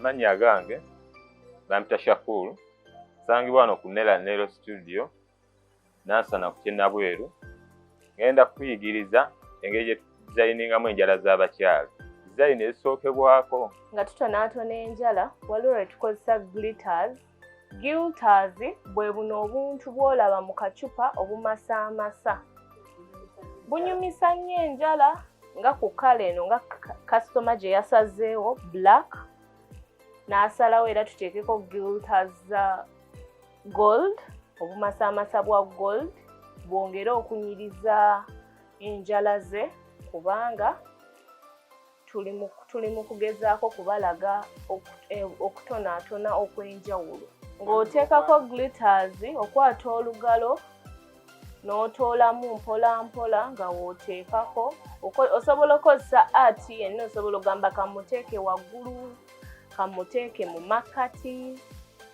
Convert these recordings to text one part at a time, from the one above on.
amannya agange bampita Shakur nsangibwa wano ku Nera Nero studio nansana ku kyennabweru ngenda kukuyigiriza engeri gye tudizayiningamu enjala z'abakyala dizayini ezisookebwako nga tutonaatona enjala waliwo lwe tukozesa glitters gilters bwe buno obuntu bw'olaba mu kacupa obumasaamasa bunyumisa nnyo enjala nga ku kala eno nga kasitoma gye yasazeewo black n'asalawo era tuteekeko gilters za gold obumasaamasa bwa gold bwongere okunyiriza enjala ze kubanga tuli mu kugezaako kubalaga e, okutonaatona okw'enjawulo ng'oteekako glitters okwata olugalo n'otoolamu mpola mpola nga w'oteekako osobola okozesa art yenna osobola ogamba kamuteeke waggulu kamuteeke mu makkati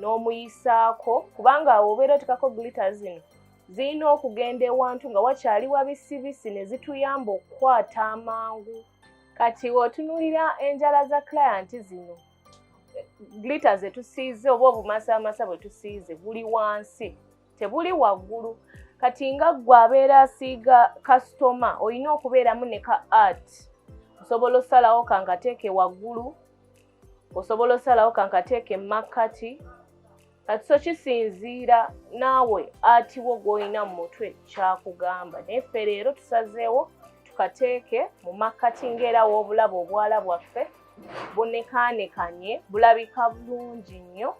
n'omuyisaako kubanga awo obeera otekako glita zino zirina okugenda ewantu nga wakyali wabisibisi ne zituyamba okukwata amangu kati otunulira enjala za client zino glita zetusiize oba obumasaamasa bwe tusiize buli wansi tebuli waggulu kati nga ggwe abeera asiiga kasitoma olina okubeeramu ne ka art osobola osalawo kangateeke waggulu osobola osalawo kankateeka emakkati kati so kisinziira naawe atiwo gwolina mu mutwe kyakugamba naye ffe leero tusazeewo tukateeke mu makkati ngaera w'obulaba obwala bwaffe bunekaanekanye bulabika bulungi nnyo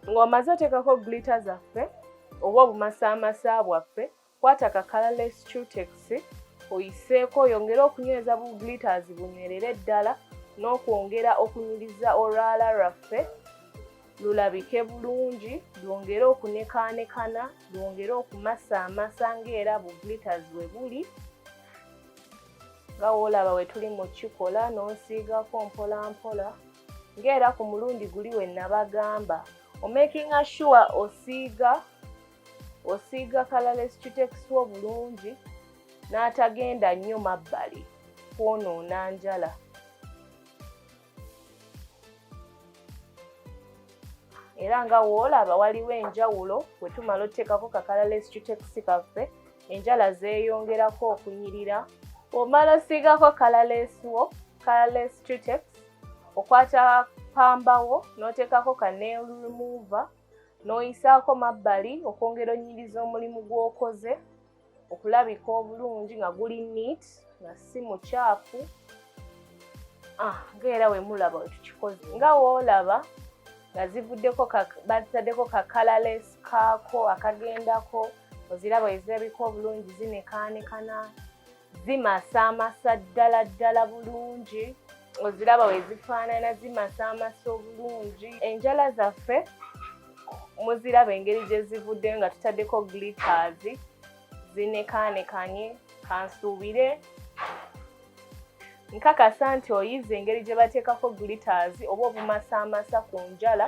ng'omaze oteekako glita zaffe oba obumasaamasa bwaffe Kwata ka colorless cutex oyiseeko oyongere okunyweza bu glitters bunywerere ddala n'okwongera okunyiriza olwala lwaffe lulabike bulungi lwongere okunekaanekana lwongere okumasaamasa ng'era bu glitters we buli nga woolaba we tuli mu kikola n'onsiigako mpolampola ng'era ku mulundi guli we nabagamba omakinga sure osiiga osiiga kalalesi kitekisi obulungi n'atagenda nnyo mabbali kwonoona njala era nga woolaba waliwo enjawulo bwe tumala oteekako kakalalesi kitekisi kaffe enjala zeeyongerako okunyirira omala osiigako kalaleesiwo kalaleesi tutex okwata pambawo n'oteekako ka nail remover n'oyisaako mabbali okwongera onyiriza omulimu gw'okoze okulabika obulungi nga guli neat nga si mukyafu ah, nga era wemulaba wetukikoze nga woolaba nga zivuddeko bazitaddeko kakalales kaako akagendako oziraba ezirabika obulungi zinekaanekana zimasaamasa ddala ddala bulungi oziraba wezifaanana zimasaamasa obulungi enjala zaffe muziraba engeri gye zivudde nga tutaddeko glitters zinekaanekanye kansuubire nkakasa nti oyize engeri gye bateekako glitters oba obumasaamasa ku njala